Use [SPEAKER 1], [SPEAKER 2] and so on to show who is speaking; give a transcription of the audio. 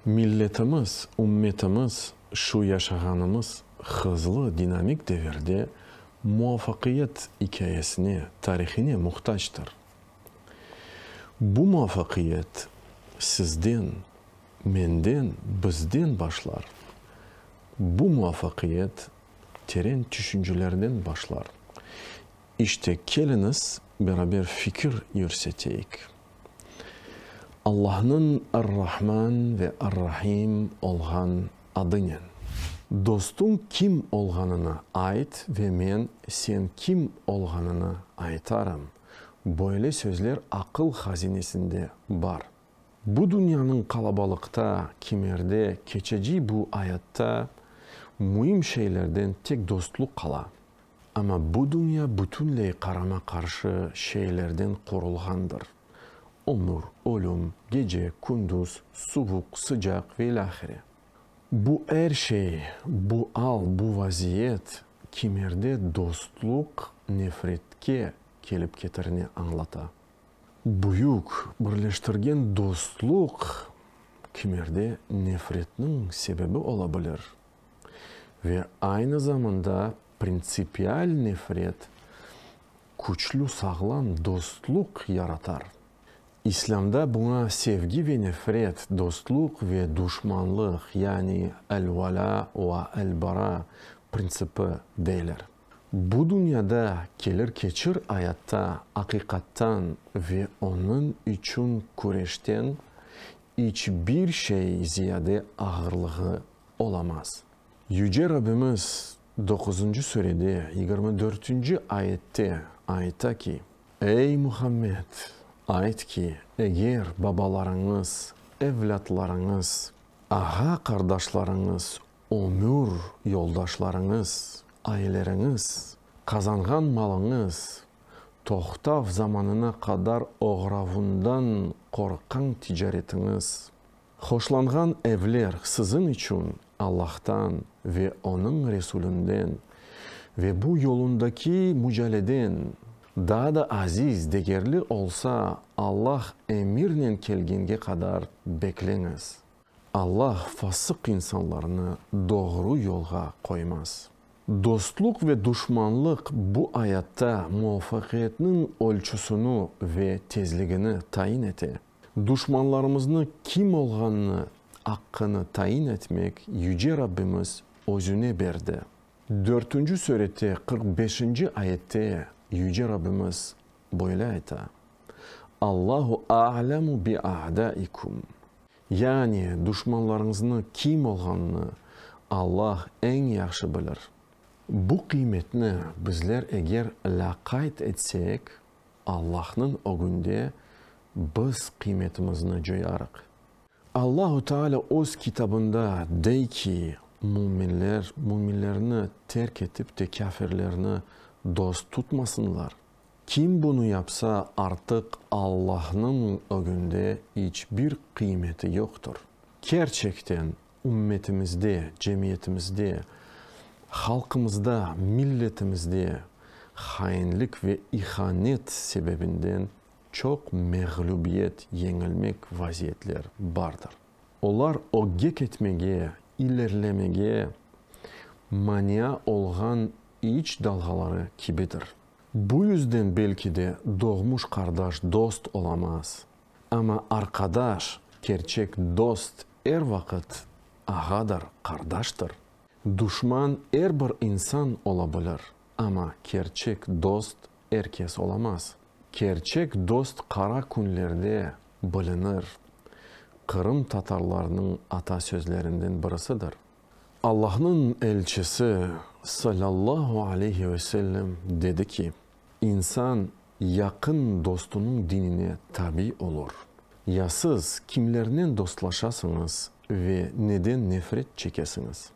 [SPEAKER 1] Milletimiz, ümmetimiz şu yaşağanımız hızlı, dinamik devirde muvafaqiyet ikâyesine, tarihine muhtactır. Bu muvafaqiyet sizden, menden, bizden başlar. Bu muvafaqiyet teren tüşüncelerden başlar. İşte, keliñiz, beraber fikir yürseteyik. Allahnıñ Ar-Rahman ve Ar-Rahim olğan adınen. Dostuñ kim olğanını ayt ve men sen kim olğanını aytarım. Böyle sözler aqıl hazinesinde bar. Bu dünyanıñ qalabalıqta, kimerde, keçeci bu ayatta müim şeylerden tek dostluq qala. Amma bu dünya bütünley qarama-qarşı şeylerden qurulğandır, ömür, ölüm, gece, kündüz, suvuq, sıcaq ve ilâhre. Bu er şey, bu al, bu vaziyet, kimerde dostluq nefretke kelip ketirine añlata. Büyük birleştirgen dostluq kimerde nefretniñ sebebi ola bilir ve aynı zamanda printsipial nefret küçlü sağlam dostluq yaratar. İslâmda buña sevgi ve nefret, dostluq ve duşmanlıq, yani el-vala va el-bara printsipi, deyler. Bu dünyada kelir-keçir ayatta aqiqattan ve onıñ içün küreşten iç bir şey ziyade ağırlığı olamaz. Yüce Rabbimiz doquzıncı sürede yigirmi dörtünci ayette ayta ki, Ey, Muhammed, ayt ki, eger babalarıñız, evlâtlarıñız, ağa-qardaşlarıñız Ömür yoldaşlarıñız, aileriñiz, qazanğan malıñız, toqtav zamanına qadar oğravundan qorqqan ticaretiñiz, hoşlanğan evler siziñ içün Allahtan ve Onıñ Resulünden ve bu yolundaki mücaleden daa da aziz, degerli olsa, Allah emirnen kelgenge qadar bekleñiz. Alla fasıq insanlarnı doğru yolğa qoymaz. Dostluq ve duşmanlıq bu ayatta muvafaqiyetniñ ölçüsini ve tezligini tayin ete. Duşmanlarımıznı kim olğanını aqqını tayin etmek Yüce Rabbimiz Özüne berdi. Dörtünci sürete qırq beşinci ayette Yüce Rabbimiz böyle ayta, Allahu a'lemu bi'a'daikum. Yani, duşmanlarıñıznı kim olğanını Allah eñ yahşı bilir. Bu qıymetni bizler eger lâqayd etsek, Allahnıñ ögünde biz qıymetimizni coyarıq. Allahu Teala Öz Kitabında dey ki, Müminler, müminlerni terk etip te kâfirlerni dost tutmasınlar. Kim bunı yapsa, artıq Allahnıñ ögünde iç bir qıymeti yoqtır. Kerçekten ümmetimizde, cemiyetimizde, halqımızda, milletimizde hainlik ve ihanet sebebinden çoq mağlubiyet, yeñilmek vaziyetler bardır. Olar ögek etmege, ilerlemege mania olğan İç dalğaları kibidir. Bu yüzden belki de doğmuş qardaş dost olamaz, amma arqadaş, kerçek dost er vaqıt ağadır, qardaştır. Duşman er bir insan ola bilir, amma kerçek dost er kes olamaz. Kerçek dost qara künlerde bilinir, qırımtatarlarnıñ ata sözlerinden birisidir. Allahnıñ elçisi, salâllahu aleyhi ve sellem, dedi ki, İnsan yaqın dostunıñ dinine tabi olur. Ya siz kimlernen dostlaşasıñız ve neden nefret çekesiñiz?